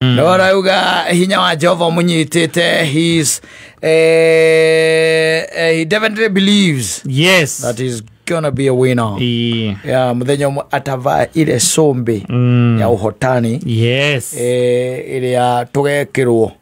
no arauga hinya wa jehova ũmũnyitĩte his eh, eh, he definitely believes yes that is gonna be a winner Ii. ya mũthenya ũmwe atavaa ile cũmbĩ Mm. ya ũhotani yes eh, ĩrĩa tũgekĩrwo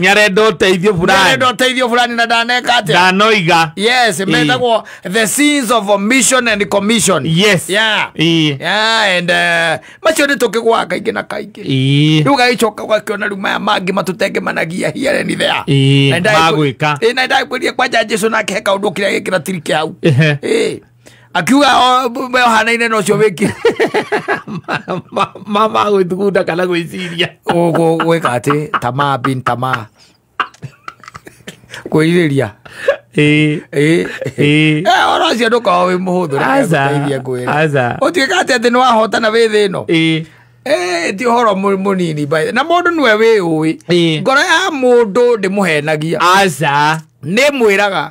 nĩarenda ũteithio burani nĩarenda ũteithio burani na ndaneka atĩa ndanoiga yes metagwo the scenes of mission and commission yes yeah Ii. yeah and uh, macio nĩ tũkĩgwaga kaingĩ na kaingĩ Ii. rä u gagäcoka gwakiona rä u maya mangä matåtenge managia hiareni thea Ii, magwĩka. na ndagä kwä ria kwanja jesu nake he kaå ndå kä rä a gä kä ra tirike hau Ehe. Ĩĩ. akiuga we ohanaine na ucio wiki mama gwithugunda kana gwiciria ugu gwika ati tamaa bin tamaa kwĩrirĩria oro cio ndũkorwo wĩ mũhũthũ rekeithie ngwĩre ũtuĩka atĩ atĩ nĩ wahotana wĩ thĩ ĩno ti å horo må nini na må ndå nwe wä å ä ngoro ya må ndå ndä må henagia nä mwä raga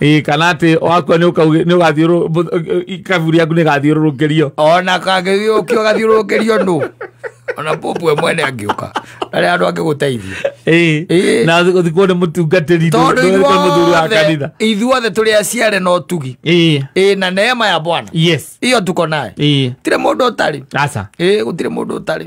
Ĩ, kana atä wakua nä å gathiå kaburi yaku nä gathiå rå rå kä rio ona kangĩgĩũkio gathiũrũrũkĩrio nũ ona popu we mwene angĩũka arĩa andũ angĩgũteithia Ĩĩ. na gå thikwo nä må tungatä ri tondũ må thuri wa ithuothe kanitha ithuothe tũrĩ aciare no tugi Ĩĩ. ĩ na neema ya bwana yes iyo tuko naye Ĩĩ. gũtirĩ mũndũ ũtarĩ aca ĩ gũtirĩ mũndũ ũtarĩ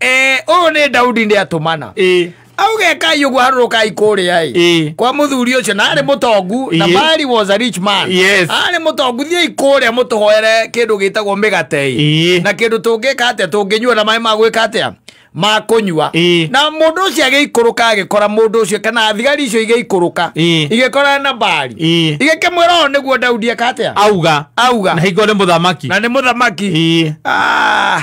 Eh, ũyũ nĩ daudi nĩ atũmana ĩ auge kai ũguo harũrũkai kũrĩa ĩ Ĩ. kwa mũthuri ũcio na arĩ mũtongu na Ĩ. mari was a rich man Yes. arĩ mũtongu thiĩi kũrĩa mũtũhoere kĩndũ gĩtagwo mĩgate ĩ Ĩ. na kĩndũ tũngĩka atĩa tũngĩnyua na maĩ ma gwĩka atĩa ma kũnyua Ĩ. na mũndũ ũcio agĩikũrũka agĩkora mũndũ ũcio kana thigari icio igĩikũrũka Ĩ. igĩkora na mbari Ĩ. igĩkĩmwĩra ũũ nĩguo daudi eka atĩa auga auga na hingo nĩ mũthamaki na nĩ mũthamaki ĩ Ah.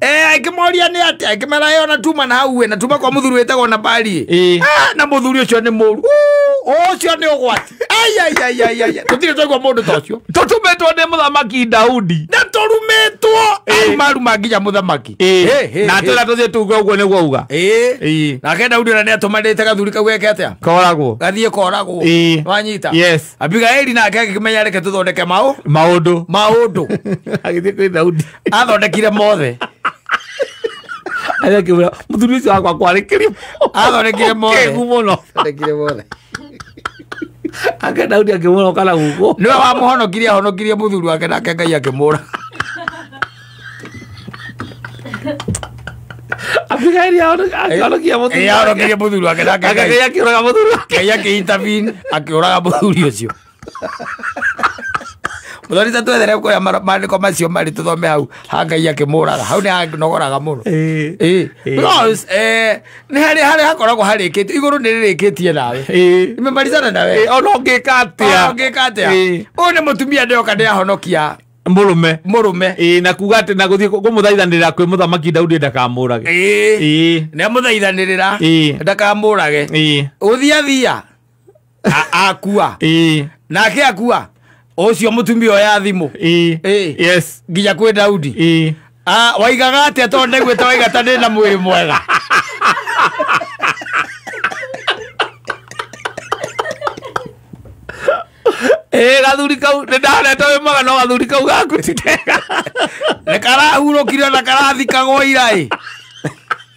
Eh, ngĩmoria nĩ atĩa ngĩmera yo natuma na hau we natuma kwa mũthuri wĩtagwo na bari Ĩĩ. Ah, na mũthuri ũcio nĩ mũru Uu, ũcio nĩ ũgwati ayayayayaya tũtirĩ twaigua mũndũ ta ũcio tũtumĩtwo nĩ mũthamaki daudi na tũrumĩtwo Ĩĩ. arumaruma nginya mũthamaki Ĩĩ. Hĩ, hĩ, na hĩ. twĩra tũthiĩ tuge ũguo nĩguo uga Ĩĩ. Ĩĩ. nake daudi na nĩ atũmanĩte gathuri kau geke atĩa koragwo gathiĩ koragwo Ĩĩ. wanyita Yes. abigaili nake agĩkĩmenya reke tũthondeke maũ maũndũ maũndũ agĩthiĩ kwĩ daudi athondekire mothe agakĩmwĩra mũthuri ũcio wakwa kwarĩkĩrio athondekire mothe kegu mũno athondekire mothe ake daudi akĩmwĩra ũkana gũkũ nĩwe wamũhonokirie ahonokirie mũthuri wake nake ngai akĩmũra abigaili ahonokia mũthuri wake. ahonokirie mũthuri wake nake ngai akĩũraga mũthuri wake ngai akĩintabin akĩũraga mũthuri ũcio Mũthoni ta twethere kuoya maandĩko macio marĩ tũthome hau ha Ngai akĩmũraga hau nĩ hanogoraga mũno Ĩĩ. Ĩĩ. Ĩĩ. Because, eh, nĩ harĩ harĩa hakoragwo harĩkĩtie igũrũ nĩ rĩrĩkĩtie nawe Ĩĩ. nimemarizana nawe Ĩĩ, ona ũngĩka Ona atĩa ũngĩka atĩa Ĩĩ. ũyũ nĩ mũtumia ndeyoka ndĩahonokia mũrũme mũrũme Ĩĩ, na kuga atĩ na gũthiĩ kũmũthaithanĩrĩra kwĩ mũthamaki daudi ndakamũrage Ĩĩ. Ĩĩ. nĩamũthaithanĩrĩra Ĩĩ. ndakamũrage Ĩĩ. gũthiathia A- akua ĩĩ nake akua ũcio mũtumia oya thimũ ĩĩ Ĩĩ. yes nginya kwĩ daudi ĩĩ Ah, waigaga atia tondå ndaiguä te waiga ta ndä na mwä rä mwega ä gathuri kau nä ndanete wä mwaga no gathuri kau gakwä nä karahurå kire na karathikagwo ira ä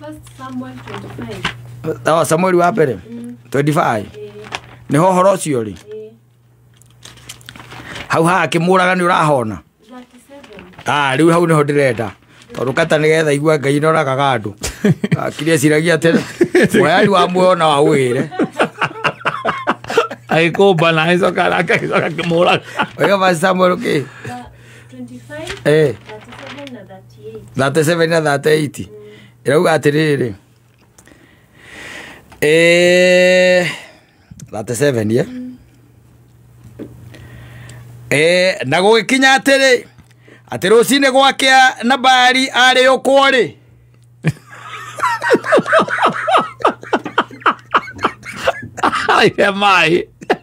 First Samuel 25. oh, samueli wa mbere 25 nĩho ũhoro ũcio rĩ Eh, hau haha akĩmũraga nĩ ũrahona 37. Ah, rĩu hau nĩho ndĩrenda tondũ kata nĩgetha igua ngai noraga andũ kiria ciragia atĩ mwayari wa muoyo na wa wĩre agĩkũmba na agĩcoka araka agĩcoka akĩmũraga wega basi samuel kä Ba- 25, eh 37 na 30. 37 na 38 ĩrauga atĩrĩrĩ Eh, 37 ye Eh, na gũgĩkinya atĩrĩ atĩ rũcinĩ gwakĩa na mbari arĩ ũkwo rĩ Aire maĩ.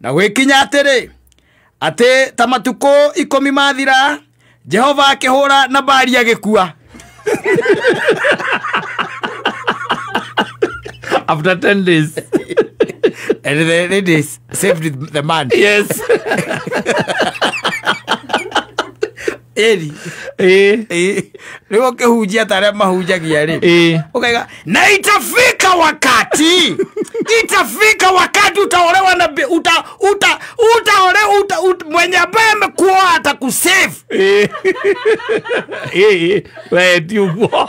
na gwĩkinya atĩrĩ atĩ ta matukũ ikũmi mathira jehova akĩhũra na mbari agĩkua after 10 days and the ladies saved the man yes ĩri ĩĩ ĩĩ rĩu ũkĩhunjia ta arĩa mahunjagia rĩ ĩĩ ukaiga na itafika wakati itafika wakati utaolewa na bi- uta uta utaole uta, ut, mwenye ambaye amekuoa atakusave ĩĩ ĩĩ we ti ũguo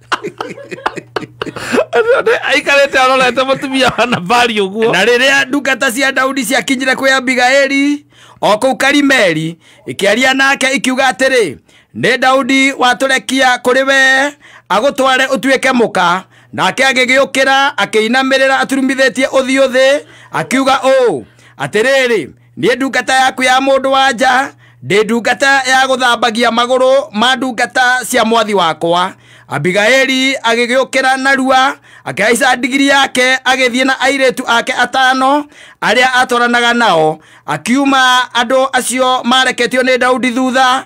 Ai karete arorete mutumia wa Nabali uguo. na rĩrĩa ndungata cia daudi ciakinyire kwĩ abigaeli o kũu karimeli ikĩaria nake ikiuga atĩrĩ nĩ daudi watũrekia kũrĩ we agũtware ũtuĩke mũka nake agĩgĩũkĩra akĩinamĩrĩra aturumithĩtie ũthiũ thĩ akiuga ũũ atĩrĩrĩ niĩ ndungata yaku ya mũndũ wa nja ndĩ ndungata ya gũthambagia magũrũ ma ndungata cia mwathi wakwa abigaili agĩgĩũkĩra narua akĩhaica ndigiri yake agĩthiĩ na airĩtu ake atano arĩa atwaranaga nao akiuma andũ acio mareketio nĩ daudi thutha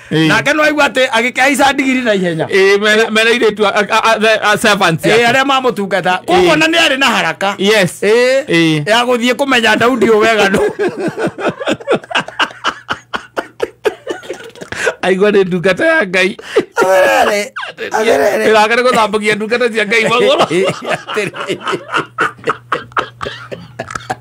Ĩĩ. nake nä waigua atä agä kä aica ndigiri na ihenya Ĩĩ, mena- mena airĩtu a- a- a- the- a- servants Ĩĩ, yake. arä a mamå tungata koguo Ĩĩ. na nä arä na haraka Yes. Ĩĩ, Ĩĩ. ya gå thiä kå menya daudi å weganu aigua nĩ ndungata ya ngai ĩraka nĩ gũthambagia ndungata cia ngai magũrũ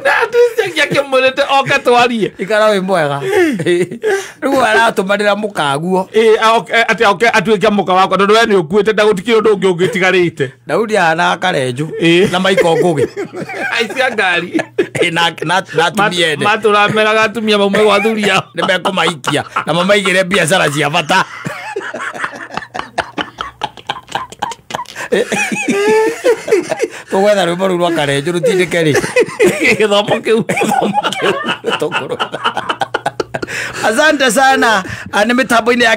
ndatwĩcagia kĩmũrĩte oka twarie ikara wĩ mwega rĩu aratũmanĩra mũkaguo Ĩ, aoke- eh, atĩ oke atuĩke mũka wakwa tondũ we nĩ ũkuĩte ndagũtikire ũndũ ũngĩ ũngĩtigarĩte daudi ahana akarenju Ĩ. na maiko ngũgĩ aici a ngari Ĩ, na- na- na atumia ene matũrameraga atumia maumwe gwa thuri yao nä mekå maikia na mamaigä re biacara cia bata tũgwetha rwĩmbo rũu rwa karenjũ rũtindĩke rĩ gĩthomo kĩu tũkũrũga asante sana Ah, nĩ mĩtambo-inĩ ya